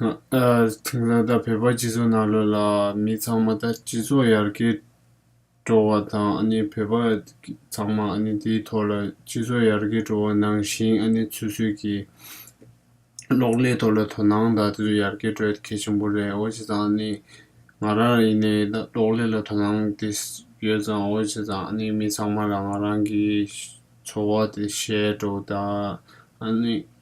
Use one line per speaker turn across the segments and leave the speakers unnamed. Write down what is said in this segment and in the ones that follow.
དེང་སང་ད་བོད་པ་སྤྱི་ཚོགས་ནང་ལོས་ལ་མི་ཚང་མ་ད་སྤྱི་ཚོགས་ཡར་རྒྱས་འགྲོ་བ་དང་ཨ་ནི་བོད་པ་ཚང་མ་ཨ་ནི་དེའི་ཐོག་ལ་སྤྱི་ཚོགས་ཡར་རྒྱས་འགྲོ་བ་ནང་བཞིན་ཨ་ནི་ཆུ་ཚོད་ཀྱི་གློག་ཀླད་ཐོག་ལ་དོ་སྣང་ད་དུ་ཡར་རྒྱས་འགྲོ་ཡ་གལ་ཆེན་པོ་རེད་འོ་བྱས་ཙང་ཨ་ནི་ང་རང་ཡིན་ནའི་ད་གློག་ཀླད་ལ་དོ་སྣང་དེ་ཡོད་ཙང་འོ་བྱས་ཙང་ཨ་ནི་མི་ཚང་མ་རང་རང་གི་འཚོ་བ་དེ་བྱས་འགྲོ་ད་ཨ་ནི་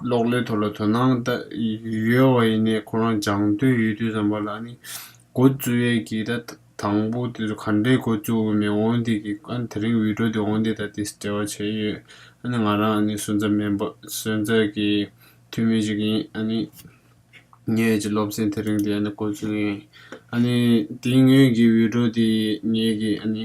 གློག་ཀླད་ཐོག་ལ་དོ་སྣང་ཡོད་བ་ཡིན་ནའི་ཁོ་རང་སྦྱང་འདོད་ཡོད་དུས་བསམ་པ་ལ་ནི་འགོ་བཙུགས་ཡས་ཀྱི་ད་དང་པོ་དེ་ཚོ་ག་འདྲའི་འགོ་བཙུགས་འོས་མེད་འོང་དེ་ཀྱི་ཨ་ནི་དེ་རིང་འུད་སྒྲོག་དེ་འོང་དེ་ད་དེ་སྤྲེལ་བ་བྱས་ཡོད་ཨ་ནི་ང་རང་ཨ་ནི་སོན་རྩ་མེད་སོན་རྩ་གི་འཐུས་མི་ཞིག་ཡིན་ཨ་ནི་ངས་ཀྱི་སློབ་ཚན་དེ་རིང་དེ་ཨ་ནི་འགོ་བཙུགས་ཡས་ཨ་ནི་དེའི་ངོས་ཀྱི་འུད་སྒྲོག་དེ་ངས་ཀྱི་ཨ་ནི།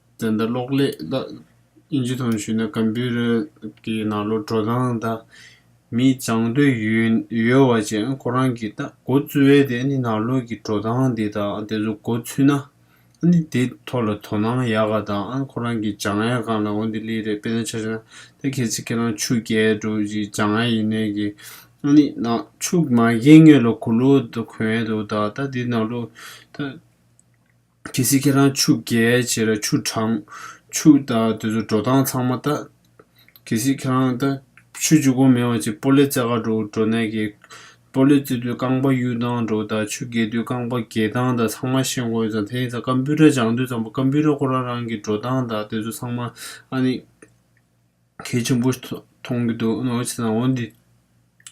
བཙན་དང་གློག་ཀླད་དང་དབྱིན་ཇི་ཐང་ཞུས་ན Computer གི་ནང་ལོ་འགྲོ་སྟངས་དང། མི་སྦྱང་འདོད་ཡོད་བ་བཅས་ཁོ་རང་གིས་ད་གོ་བཙུ་བས་དེ་ནི་ནང་ལོག་གི་འགྲོ་སྟངས་དེ་དང་དེ་ཚོ་གོ་ཚུལ་ན། ནི་དེ་ཐོག་ལ་དོ་སྣང་ཡག་ག་དང་ཁོ་རང་གིས་སྦྱང་ཡག་གང་ལ་འོ་དེ་ལི་རེད་དཔེ་ན་ཆ་ཆ་ན་ད་ཁྱེད་ཚི་ཁྱེད་རང་ཕྱུགས་རྒྱལ་དྲུག་གཅིག་སྦྱང་ཡ་ཡིན་ནའི་གི། ནི་ན་ཕྱུགས་མ་རྒྱལ་ངེད་ལོ་གུ་ལོ་དུ་གོན་ཡ་འདུག་ད་ད་དེ་ནང་ལོག་ད། གལ་སྲིད་ཁྱེད་རང་ཕྱུགས་རྒྱལ་བྱེད་ལ་ཆུ་དྲང། ཆུ་ད་དེ་ཚོ་འགྲོ་སྟངས་ཚང་མ་ལྟ། གལ་སྲིད་ཁྱེད་རང་ད། ཆུ་ཆུ་གོ་མེད་བ་ཅིག་སྤོ་ལེ་རྩེ་ག་འགྲོ་འགྲོ་ནས་ཀྱི། སྤོ་ལེ་རྩེ་དུས་རྐང་པ་གཡུག་སྟངས་འགྲོ་ད་ཆུ་རྒལ་དུས་རྐང་པ་འགྱེལ་སྟངས་ད་ཚང་མ་ཤེས་འགོ་ཡོད་ཙང་དེ་ཡིན་ཙང་ཀམ་པུའུ་ཏར་སྦྱང་དུས་ཙང་པ་ཀམ་པུའུ་ཏར་ཁོ་རང་རང་གི་འགྲོ་སྟངས་ད་དེ་ཚོ་ཚང་མ་ཨ་ནི། ཁྱེད་ཆེན་པོ་མཐོང་གི་འདུག་ཨོ་ཆེ་ཟང་བོ་འདི་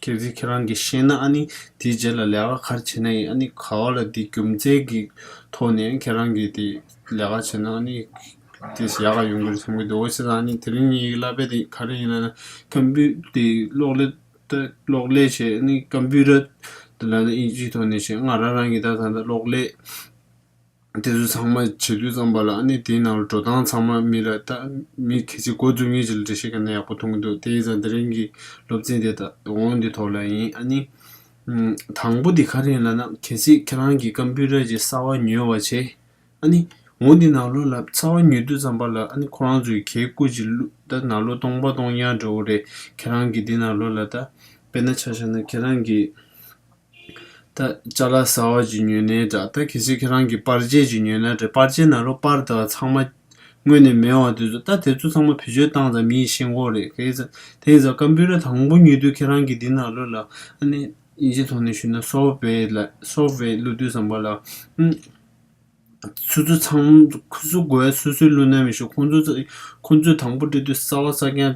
གལ་སྲིད་ཁྱེད་རང་གིས་ཤེས་ན་ཨ་ནི་དེའི་རྗེས་ལ་ལས་ཀ་གར་བྱེད་ན་ཡིན་ཨ་ནི་ག་བ་ལ་དེ་རྒྱུ་མཚན་གི་ཐོག་ནས་ཁྱེད་རང་གིས་དེ་ལས་ཀ་བྱེད་ན་ཨ་ནི་དེས་ཡག་ག་ཡོང་གི་རེད་བསམ་གི་འདུག་ཨོ་ཆེ་ཟང་ཨ་ནི་དེ་རིང་ངའི་གླ་པད་དེ་ག་རེ་ཡིན་ན་ཀམ་པུ་དེ་གློག་ཀླད་དེ་གློག་ཀླད་བྱས་ཨ་ནི་ཀམ་པུ་ར་དེ་ལ་ཨིན་ཇིའི་ཐོག་ནས་བྱས་ང་རང་རང་གིས་ད་ད་ལྟ་གློག་ཀླད་དེ་ཚོ་ཚང་མ་བྱེད་དུས་བརྩམས་པ་ལ་ཨ་ནི་དེའི་ནང་ལ་འགྲོ་སྟངས་ཚང་མ་མི་ལ་ལྟ་མི་གལ་ཆེ་འགོ་འཛུགས་ངེས་ཅི་ལ་འབྲེལ་བཤད་ག་ན་ཡག་པོ་མཐོང་གི་འདུག་དེ་ཡིན་ཙང་དེ་རིང་གི་སློབ་ཚན་དེ་དགོངས་འདི་ཐོག་ལ་ཡིན་ཨ་ནི། དང་པོ་དེ་ག་རེ་ཡིན་ལ་ན་གལ་སྲིད་ཁྱེད་རང་གིས་སྐམ་པུའི་རས་ཀྱི་གསར་བ་ཉོས་བ་བྱས་ཨ་ནི། འོ་འདི་ནག་ལོ་ལ་གསར་བ་ཉོས་དུས་བརྩམས་པ་ལ་ཨ་ནི་ཁོ་རང་ཚོའི་གའི་སྐུ་གཅིག་བླུག་ད་ནག་ལོ་སྟོང་པ་སྟོང་ཡང་འདྲ་བོ་རེད་ཁྱེད་རང་གིས་འདི་ནག་ལོ་ལ་ད་དཔེར་ན་ཆ་བཞག་ན་ཁྱེད་རང་གིས། ད་ཅག་ལ་ཟ་བ་ཅི་ཉོས་ནས་འདྲ་ད་གལ་སྲིད་ཁྱེད་རང་གིས་པར་ཆས་ཅིག་ཉོས་ན་འདྲ་པར་ཆས་ན་རོ་པར་དང་ཚང་མ་དངོས་ནས་མེད་བ་དེ་ཚོ་ད་དེ་ཚོ་ཚང་མ་བེད་སྤྱོད་བཏང་ཙང་མིའི་ཤེས་མཁོ་རེད་གལ་སྲིད་དེང་སང་ཀམ་པུའུ་ར་དང་པོ་ཉོས་དུས་ཁྱེད་རང་གིས་འདི་ནང་བླུགས་ལ་ཨ་ནི་ཡིན་གཅིག་ཐོག་ནས་ཞུས་ན་སོབ་བེ་ལ་སོབ་བེ་བླུགས་དུས་བསམ་པ་ལ་སུ་སུ་ཚང་སུ་སུ་དགོས་སུ་སུས་བླུགས་ན་མི་ཤེས་ཁོང་ཚོ་ཚོ་ཁོང་ཚོས་དང་པོ་སྤྲད་དུས་སྲ་བ་སྲ་རྐྱང་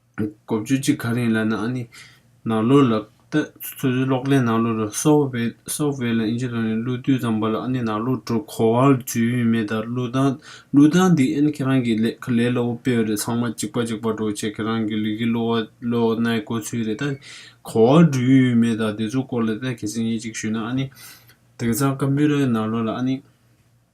གོ་བཅོས་གཅིག་ག་རེ་ཡིན་ལབ་ན་ཨ་ནི་ནང་ལོགས་ལ་ལྟ། ཚོད་འཛིན་གློག་ཀླད་ནང་ལོགས་ལ Software ལ་ཨིན་ཇི་ལོགས་ནས་གླུ་བསྡུས་ཙམ་པ་ལ་ཨ་ནི་ནང་ལོགས་འགྲོ་གོ་བ་ལ་ཇུས་ཡུན་མེད་ད་གླུ་དང་གླུ་དང་འདི་ཨན་ཁྱེད་རང་གི་ལས་ཁ་ལས་སླ་བོ་སྤེལ་བ་རེད་ཚང་མ་གཅིག་པ་གཅིག་པ་འགྲོ་བྱེད་ཁྱེད་རང་གི་ལུས་ཀྱི་གློ་བ་གློ་ནའི་དགོས་ཚུལ་རེད་ད་གོ་བ་འགྲོ་ཡུན་མེད་ད་དེ་ཚོ་སྐོར་ལ་ལྟ་གལ་སྲིད་ངས་གཅིག་ཞུས་ན་ཨ་ནི་དེང་སང་ཀམ་པུའུ་རའི་ནང་ལོགས་ལ་ཨ་ནི།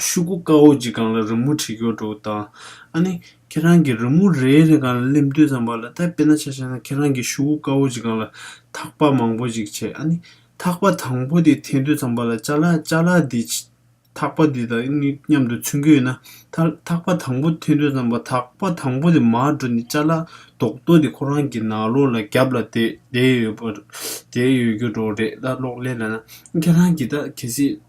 ཤུ་གུ་དཀར་བོ་གཅིག་གང་ལ་རི་མོ་བྲིས་ཀྱོག་འགྲོ་དང། ཨ་ནི། ཁྱེད་རང་གིས་རི་མོ་རེ་རེ་གང་ལ་སླེབས་མདོས་ཙམ་བར་ལ་ལྟ་དཔེར་ན་ཆ་བྱས་ན་ཁྱེད་རང་གིས་ཤུ་གུ་དཀར་བོ་གཅིག་གང་ལ་ཐག་པ་མང་བོ་གཅིག་བྱས་ཨ་ནི། ཐག་པ་དང་པོ་དེ་འཐེན་མདོས་ཙམ་བར་ལ་བཅའ་ལགས་བཅའ་ལགས་དེ། ཐག་པ་དེ་དང་གཉིས་མཉམ་དུ་ཚུན་ཁྱོད་ཡོད་ན། ཐག་པ་དང་པོ་འཐེན་མདོས་ཙམ་བར་ཐག་པ་དང་པོ་དེ་མར་འགྲོ་ནས་བཅའ་ལགས་རྡོག་རྡོག་དེ་ཁོ་རང་གི་ནགས་ལོག་ལ་རྒྱབ་ལ་བསྡད་ཡོད་པར་བསྡད་ཡོད་ཀྱོག་འགྲོ་རེད་ད་གློག་ཀླད་ལ་ན་ཨ་ནི། ཁྱེད་རང་གིས་ད་གལ་སྲིད།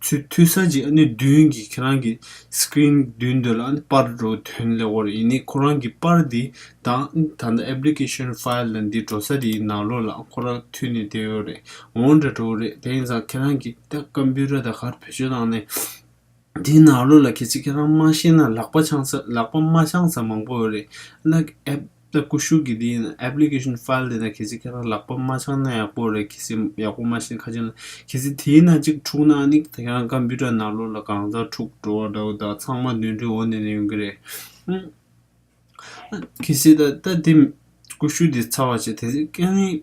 ཚུལ་མཐུན་ས་གཅིག་ཨ་ནུ་བདུན་གྱིས་ཁྱེད་རང་གི Screen མདུན་དུ་ལ་དཔར་འགྲོ་དོན་ལེགས་བོར་ཡིན་ནི་ཁོ་རང་གི་དཔར་འདི་དང་ད་ལྟ Application File ལ་འདི་འགྲོ་ས་དེ་ཡི་ནང་ལོགས་ལ་ཁོ་རང་མཐུད་ནས་དེ་ཡོད་རེད་འོང་འདྲ་འགྲོ་རེད་དེ་ཡིན་ཙང་ཁྱེད་རང་གི་ད Computer ད་གར་བེད་སྤྱོད་བཏང་ནས་དེ་ནང་ལོགས་ལ་གལ་སྲིད་ཁྱེད་རང་མ་ཤེས་ན་ལག་པ་འཆང་ས་ལག་པ་མ་འཆང་ས་མང་པོ་ཡོད་རེད་ལ App། ད་ཀུ་ཤུ་གི་དེ་ཡིན application file དེ་ན་གལ་སྲིད་ཁྱེད་རང་ལག་པ་མ་འཆང་ན་ཡག་པོ་རེད་གལ་སྲིད་ཡག་པོ་མ་ཤེས་ན་ཁ་ཆེམས་ལ་གལ་སྲིད་དེའི་ནང་གཅིག་འཁྲུག་ན་ནི་ད་ཁྱེད་རང་ཀམ་པུ་ཏར་ནང་ལོག་ལ་གང་ཟག་འཁྲུག་འགྲོ་བ་འདྲ་བོ་ད་ཚང་མ་དུད་འགྲོའི་འོ་ནད་ནས་ཡོང་གི་རེད་ཧུམ། གལ་སྲིད་ད་ད་དེ་ཀུ་ཤུ་དེ་ཚར་བ་བྱས་དེ་སྲིད་ཀན་ལྷེའི་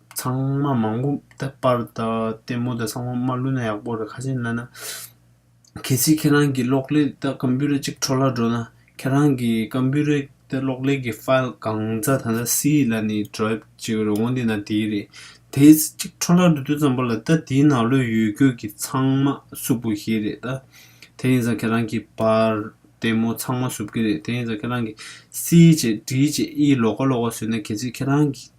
ཚང་མ་མང་པོ་ད་པར་ད་ལྟད་མོ་ད་ཚང་མ་མ་བསླུ་ན་ཡག་པོ་རེད་ཁ་ཤས་འདི་ན། གལ་སྲིད་ཁྱེད་རང་གི་གློག་ཀླད་ད་ཀམ་པུ་ར་གཅིག་འཕྲོ་བརླག་འགྲོ་ན་ཁྱེད་རང་གི་ཀམ་པུ་རའི་ད་གློག་ཀླད་ཀྱི་ཕཱིལ་གང་རྩ་ད་ལྟ་སི་ཡི་ལ་ནི་འདྲོའབ་བྱེད་ཀྱི་རོང་བོ་འདི་ན་དེའི་རེད། དེ་གཅིག་འཕྲོ་བརླག་འགྲོ་དུས་ཙམ་པོ་ལ་ད་དེའི་ནང་ལོས་ཡོད་རྒྱུ་གི་ཚང་མ་སུབ་པོ་ཞིག་རེད་ད། དེ་ཡིན་ཙང་ཁྱེད་རང་གི་པར་ལྟད་མོ་ཚང་མ་སུབ་ཀྱི་རེད་དེ་ཡིན་ཙང་ཁྱེད་རང་གི་སི་ཡི་བྱེད་འབྲིའི་བྱེད་ཨི་ཡི་ལོག་ཀ་ལོག་ཀ་ཟོས་ན་གལ་སྲིད་ཁྱེད་རང་གི།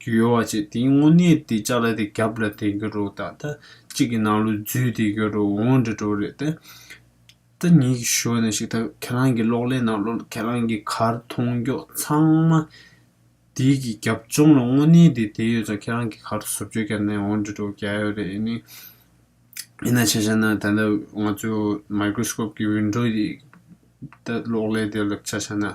རྒྱུ་ཡོད་བ་ཅིག་དེའི་དངོས་གནས་དེ་ལྕགས་ལ་དེ་རྒྱབ་ལ་དེ་གྱུར་རོ་ད་ལྟ་གཅིག་གི་ནང་ལོ་རྫུས་དེ་གྱུར་རོ་འོང་འདྲི་འགྲོ་རེད་ད་ད་ཉིད་ཀྱི་ཞོལ་ནས་ཞིག་ད་ཁྱེད་རང་གི་གློག་ཀླད་ནང་ལོ་ཁྱེད་རང་གི་གར་མཐོང་མགྱོགས་ཚང་མ་དེ་གི་རྒྱབ་ལྗོངས་ལ་དངོས་གནས་དེ་དེ་ཡོད་ཙང་ཁྱེད་རང་གི་གར་བཟོ་བཅོས་བརྒྱབ་ནས་འོང་འདྲི་འགྲོ་ག་ཡོད་རེད་ཨེ་ནི་ཡིན་ན་ཆ་ཤ་ན་ད་ལྟ་ང་ཚོའི་མཱིཀ་རོ་སྐོབ་ཀྱི་ཝིན་འགྲོ་དེ་ད་གློག་ཀླད་དེ་ལ་ཆ་ཤ་ན།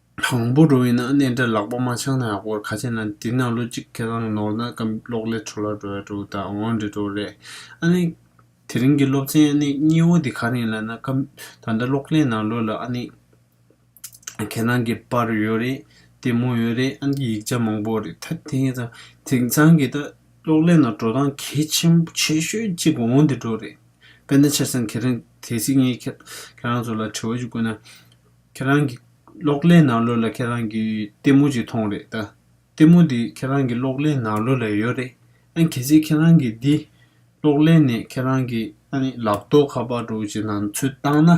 དང་པོ་འགྲོ་བས་ན་གནས་འདྲ་ལག་པ་མ་འཆང་ན་ཡག་པོར་ཁ་ཆེ་ན་འདི་ན་ལོ་གཅིག་ཁེ་རང་ནོར་ན་སྐམ་གློག་ལས་འཕྲོ་ལ་འགྲོ་ཡ་འགྲོ་ད་འོང་འདྲེ་འགྲོ་རེད་ཨ་ནི། དེ་རིང་གི་སློབ་ཚན་ཨ་ནི་སྙི་བོ་འདི་ག་རིང་ལ་ན་སྐམ་ད་ལྟ་གློག་ལས་ནང་ལོས་ལ་ཨ་ནི། ཁེ་རང་གི་པར་ཡོད་རེད་དེ་མོ་ཡོད་རེད་ཨ་ནི་ཡིག་ཆ་མང་པོ་རེད་ད་དེ་ངེད་ཚང་དེང་ཚང་གི་ད་གློག་ལས་ནང་འགྲོ་སྟངས་གལ་ཆེན་པོ་ཆེ་ཤོས་གཅིག་འོང་འདི་འགྲོ་རེད་དཔེ་ན་ཆ་ཚང་ཁེ་རང་དེ་སྲིད་ངེད་ཁེ་རང་ཚོ་ལ་དྲི་བ་ཅིག་བཀོད་ན། ཁྱེད་རང་གི་གློག་ཀླད་ནང་ལོས་ལ་ཁྱེད་རང་གི་ལྟད་མོ་ཅིག་མཐོང་རེད་ད། ལྟད་མོ་དེ་ཁྱེད་རང་གི་གློག་ཀླད་ནང་ལོས་ལ་ཡོད་རེད། ཨ་གལ་སྲིད་ཁྱེད་རང་གི་འདི་གློག་ཀླད་ནས་ཁྱེད་རང་གི་ཨ་ནི་ལག་རྡོག་ཁ་པར་འགྲོ་ཅིག་ནང་ཚུད་བཏང་ན།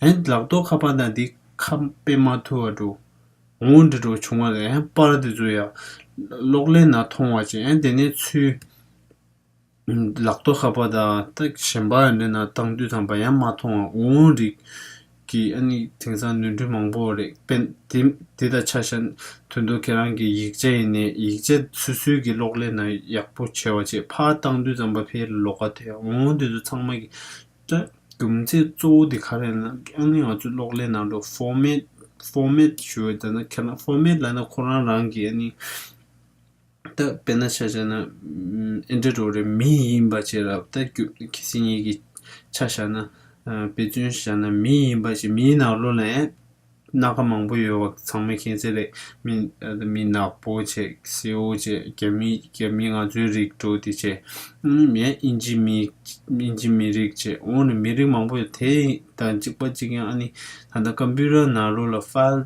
ཨན་ལག་རྡོག་ཁ་པར་དང་འདི་ཁ་དཔེ་མ་ཐུ་བ་འགྲོ། ངོ་བོ་འདྲི་འགྲོ་བྱུང་བ་ལས་ཨན་པར་འདི་ཚོ་ཡང་གློག་ཀླད་ནང་མཐོང་བ་ཅིག་ཨན་དེ་ནས་ཚུད། ལག་ཏུ་ཧབ་པ་དང་སྟག་གཞན་པ་འདི་ན་སྟག་འདུས་དང་བ་ཡང་མ་མཐོང་བ་འུར་འུར་རིགས་ཀྱི་ཨ་ནི་དེང་སང་ནོར་འཁྲུལ་མང་པོ་རེད་པན་དེ་དང་ཆ་ཤ་དོན་དུ་ཁྱེད་རང་གི་ཡིག་ཆ་ཡིན་ནས་ཡིག་ཆ་སུས་སུས་ཀྱི་གློག་ཀླད་ན་ཡག་པོ་བྱས་བ་ཅེས་ཕར་སྟག་འདུས་ཙམ་པ་ཕའི་ལོ་ཀ་དེ་འུར་འུར་དེ་ཚོ་ཚང་མ་གི་ཀྱ་རྒྱུ་མཚན་གཙོ་བོ་དེ་ག་རེད་ན་ཨ་ནི་ང་ཚོའི་གློག་ཀླད་ནང་དུ format format ཞུ་བ་ད་ནི་ཁྱེད་རང format ལ་ན་ཁོ་རང་རང་གི་ཨ་ནི། ད་དཔེར་ན་ཆ་བྱས་ན་ཨེ་འདྲ་རོ་རེ་མི་ཡིན་པ་བྱས་རབ་ད་རྒྱུ་གི་སེམས་ཡིད་ཀྱི་ཆ་བཞག་ན་དཔེ་མཚོན་བཞག་ན་མི་ཡིན་པ་བྱས་མིའི་ནགས་ལོ་ལ་ཡང་སྣ་ཁ་མང་པོ་ཡོད་བ་ཚང་མ་མཁྱེན་གསལ་རེད་མི་ད་མི་ནག་པོ་བྱས་སེའུ་བྱས་རྒྱ་མི་རྒྱ་མི་ང་ཚོའི་རིགས་འགྲོ་དེ་བྱས་མེད་ཨིན་ཇི་མི་ཨིན་ཇི་མི་རིགས་བྱས་འོང་ནས་མི་རིགས་མང་པོ་ཡོད་དེ་དང་གཅིག་པ་གཅིག་ཡང་ཨ་ནི་ད་ལྟ་ཀ་འབུ་ར་ནག་ལོ་ལ་ཧྥ།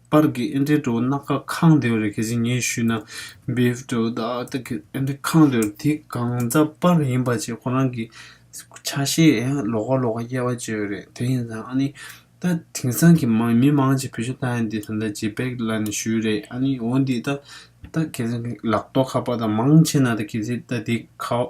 པར་གི་ཨེ་འདྲའི་དྲོ་ནག་ཁ་ཁང་དེ་རེ་ཁེ་སི་ཉེ་ཤུས་ན་བེའུ་དྲོ་དག་དག་གི་ཨེ་འདྲའི་ཁང་དེ་རེ་དེ་གང་རྫ་པར་ཡིན་པ་བྱས་ཁོ་རང་གི་ཆ་ཤས་ལོག་ག་ལོག་ག་དབྱེ་བ་བྱས་ཡོད་རེད་དེ་ཡིན་ཙང་ཨ་ནི་ད་དེང་སང་གི་མང་མི་མང་གཅིག་བོད་ཤ་ཏག་ཡིན་དེ་ད་ད་ཇེ་བེག་ལ་ནི་ཞུས་རེད་ཨ་ནི་འོ་འདི་ད་ད་ཁེ་སི་ལག་ཏོག་ཁ་པར་དང་མང་ཆེ་ན་ད་ཁེ་སི་ད་དེ་ཁ།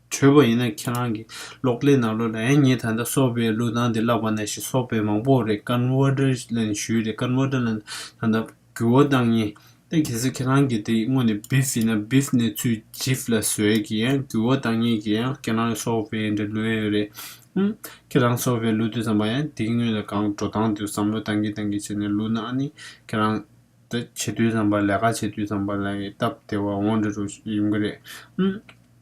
གྲོད་པ་ཡིན་ན་ཁྱེད་རང་གི་གློག་ཀླད་ནང་ལོ་ལ་ཨེ་ཉེ་ད་ལྟ་སོག་པའི་ལུགས་དང་དེ་ལག་པ་ན་ཞིག་སོག་པའི་མང་པོ་རེད Converter ལན་ཞུས་རེད Converter ལན་ད་ལྟ་འགྱུར་བ་བཏང་ངེས་ཏེ་གལ་སྲིད་ཁྱེད་རང་གི་དེ་དངོས་ནས Beef ཡིན་ན Beef ནས་ཚུལ Jiff ལ་བཟོས་གི་འགྱུར་བ་བཏང་ངེས་གི་ཁྱེད་རང་གི་སོག་པའི་འདྲ་ལུས་ཡོད་རེད་ཧུམ་ཁྱེད་རང་སོག་པའི་ལུགས་དེ་ཙམ་པ་ཡང་དེ་དངོས་ལ་གང་འགྲོ་སྟངས་དེ་བསམ་བློ་བཏང་གི་བཏང་གི་བྱས་ནས་ལུགས་ན་ཨ་ནི་ཁྱེད་རང་ད་བྱེད་དུས་ཙམ་པ་ལས་ཀ་བྱེད་དུས་ཙམ་པ་ལ་ཡི་སྟབས་དེ་བ་འོང་འདྲ་འགྲོ་ཡིན་གི་རེད་ཧུམ།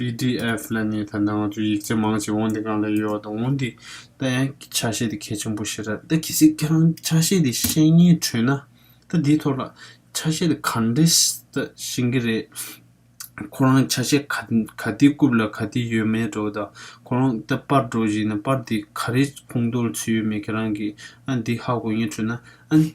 PDF ལ་ནི་ད་ནང་ཚུན་ཡིག་ཆ་མང་ཞིག་འོང་དེ་གང་ལ་ཡོད་དང་འོང་དེ་ད་ཡང་ཆ་ཤས་དེ་གལ་ཆེན་པོ་ཞིག་རེད་ད་གལ་སྲིད་ཁྱེད་རང་ཆ་ཤས་དེ་ཤེས་ཉེན་བྲོས་ན་ད་དེའི་ཐོག་ལ་ཆ་ཤས་དེ་ག་འདྲི་ད་ཤེས་གི་རེད། ཁོ་རང་ཆ་ཤས་ག་ག་དེའི་རྐུབ་ལ་ག་དེ་ཡོད་མེད་འགྲོ་ད་ཁོ་རང་ད་པར་འགྲོ་བཞིན་ན་པར་དེ་ག་རེ་ཁུངས་གཏོར་ཚུལ་ཡོད་མེད་ཁྱེད་རང་གིས་ཨ་འདི་ཧ་གོ་ཉེན་བྲོས་ན་ཨ་ནི།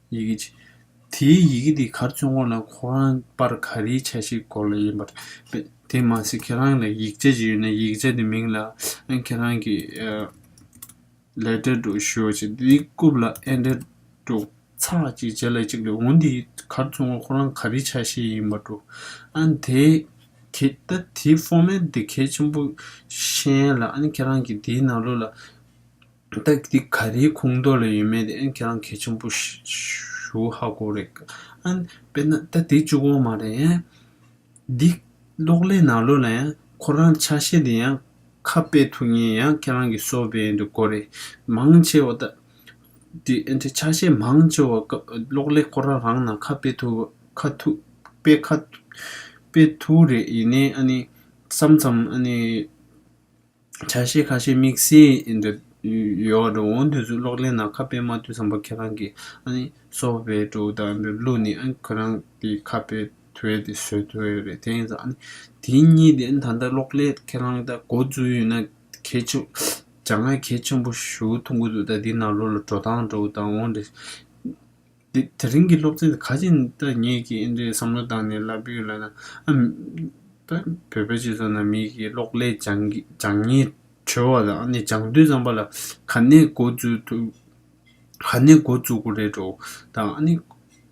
ཡི་གེ་གཅིག། དེའི་ཡི་གེ་དེ་གར་བཙོན་དགོངས་ན་ཁོ་རང་དཔར་ག་རེའི་ཆ་ཞིག་གོ་ལ་ཡིན་པར་མེད། དེ་མ་ཟད་ཁྱེད་རང་ལ་ཡིག་ཆ་ཅིག་ཡོད་ན་ཡིག་ཆ་དེ་མིང་ལ་ཁྱེད་རང་གི Letter དུ་ཞུ་ཅིག་དེ་རྐུབ་ལ Ended དུ་ཚག་ཅིག་བྱས་ལ་ཅིག་ལོས་འོང་དེ་གར་བཙོན་དགོངས་ཁོ་རང་ག་རེའི་ཆ་ཞིག་ཡིན་པར་འགྲོ། ཨང་དེ་གེ་ད་དེའི Format དེ་གལ་ཆེན་པོ་ཤན་ལ་ཨང་ཁྱེད་རང་གི་དེའི་ནང་ལོགས་ལ། སྟག་འདི་ག་རེའི་ཁུངས་གཏོགས་ལ་ཡོད་མེད་དེ་ཁྱེད་རང་གལ་ཆེན་པོ་ཞུ་ཧ་གོ་རེད་ཀ་ཨ་ནི་དཔེར་ན་ད་དེ་བཅུ་གོང་མ་རེད་ཡང། འདི་གློག་ཀླད་ནང་ལོག་ལ་ཡང་ཁོ་རང་ཆ་ཤས་དེ་ཡང་ཁ་དཔེ་ཐུག་ཉེན་ཡང་ཁྱེད་རང་གི་གསོ་བས་ཡིན་དུ་གོ་རེད་མང་ཆེ་བ་ད། དེ་ཨ་ཆ་ཤས་མང་ཆེ་བ་གློག་ཀླད་ཁོ་རང་རང་ནང་ཁ་དཔེ་ཐུག་ཁ་ཐུག་དཔེ་ཁ་དཔེ་ཐུག་རེད་ཡིན་ནའི་ཨ་ནི་བསམ་ཙམ་ཨ་ནི། བྱ་ཤེས་ཁ་ཤས་དམིགས་བསལ་འདི་ཡོད་འགྲོ་འོང་དུས་སུ་གློག་ཀླད་ནང་ཁ་དཔེ་མ་བཏུས་བསམ་པ་ཁྱེད་རང་གིས་ཨ་ནི་སོ་བའི་དྲུག་དང་འདི་བླུགས་ནས་ཨ་ནི་ཁོ་རང་གི་ཁ་དཔེ་དོད་དེ་བཟོས་དོད་རེད་དེ་ཡིན་ཙང་ཨ་ནི་དེ་གཉིས་དེ་ད་ལྟ་གློག་ཀླད་ཁྱེད་རང་ད་གོ་བཙུགས་ཡོད་ན་གལ་ཆེ་བོ་བྱ་ང་གལ་ཆེན་པོ་ཞུ་ཐུང་གི་འདུག་ད་འདི་ནང་ལོག་ལ་འགྲོ་དང་འགྲོ་དང་འོང་འདི། དེ་རིང་གི་སློབ་ཚན་དེ་ཁ་ཆེ་ད་ངེད་ཀྱིས་ཨིན་འདྲའི་བསམ་བློ་བཏང་ནས་བསླབ་ཡུལ་ལ་ན། ད་བོད་པའི་སྤྱི་ཚོགས་ན་མི་ཞིག་གིས་གློག་ཀླད་སྦྱང་ཉིན་བྲོས་བ་དང་ནི་སྦྱང་དུས་ཙམ་པ་ལ་ག་ནས་འགོ་འཛུགས་ཐུབ། ག་ནས་འགོ་འཛུགས་དགོས་རེད་འགྲོ་དང་ནི།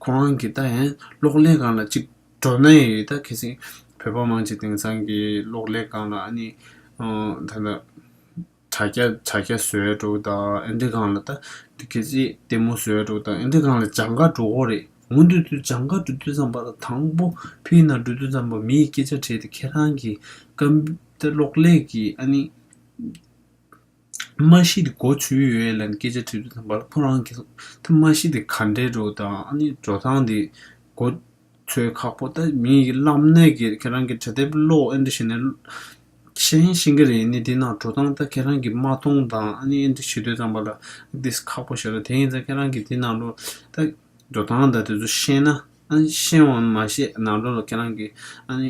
ཁོ་རང་གིས་ད་ཡང་གློག་ཀླད་སྒང་ལ་ཅིག་འགྲོ་ན་ཡི་ད་གལ་སྲིད་བོད་པ་མང་ཆེ་དེང་སང་གི་གློག་ཀླད་སྒང་ལ་ནི། ད་ལྟ། དྲ་རྒྱ་དྲ་རྒྱ་བཟོས་འགྲོ་གི་དང་ཨེ་འདྲས་གང་ལ་ད་དེ་གལ་སྲིད་ལྟད་མོ་བཟོས་འགྲོ་གི་དང་ཨེ་འདྲས་གང་ལ་བྱང་ཁ་འགྲོ་འོ་རེད་ངོ་འདོད་དུ་བྱང་ཁ་འགྲོ་དུས་ཙམ་པ་ལ་དང་པོ་ཕི་ཡི་ནང་འགྲོ་དུས་ཙམ་པ་མིའི་སྐད་ཆ་དྲིས་ཏེ་ཁྱེད་རང་གི་ཀ་བསྟི་གློག་ཀླད་ཀྱི་ཨ་ནི་མ་གཞི་དེ་འགོ་ཚུལ་ཡོད་ཡོད་ལ་ནི་སྐད་ཆ་དྲིས་དུས་ཙམ་པ་ལ་ཁོ་རང་གི་ཐ་མ་གཞི་དེ་ག་འདྲས་འགྲོ་གི་དང་ཨ་ནི་འགྲོ་སྟངས་དེ་འགོ། ཚོའི་ཁག་པོ་ད་མི་ཡིག་བསླབ་ནས་ཀྱི་ཁྱེད་རང་གི་དྲ་དེབ་ཀློག་ཨེ་འདྲ་བྱས་ནས་ཤེས་ཡིན་ཤེས་ཀྱི་རེད་ནི་དེ་ནང་འགྲོ་སྟངས་ད་ཁྱེད་རང་གི་མ་མཐོང་དང་ཨ་ནི་ཨེ་འདྲ་བྱེད་འདོད་ཙམ་པ་ལ་དེས་ཁག་པོ་བྱེད་རོགས་དེ་ཡིན་ཙང་ཁྱེད་རང་གི་དེ་ནང་ལོ་ད་འགྲོ་སྟངས་ད་དེ་ཚོ་ཤེས་ན་ཨ་ཤེས་འོང་མ་ཤེས་ནང་ལོ་ལ་ཁྱེད་རང་གི་ཨ་ནི།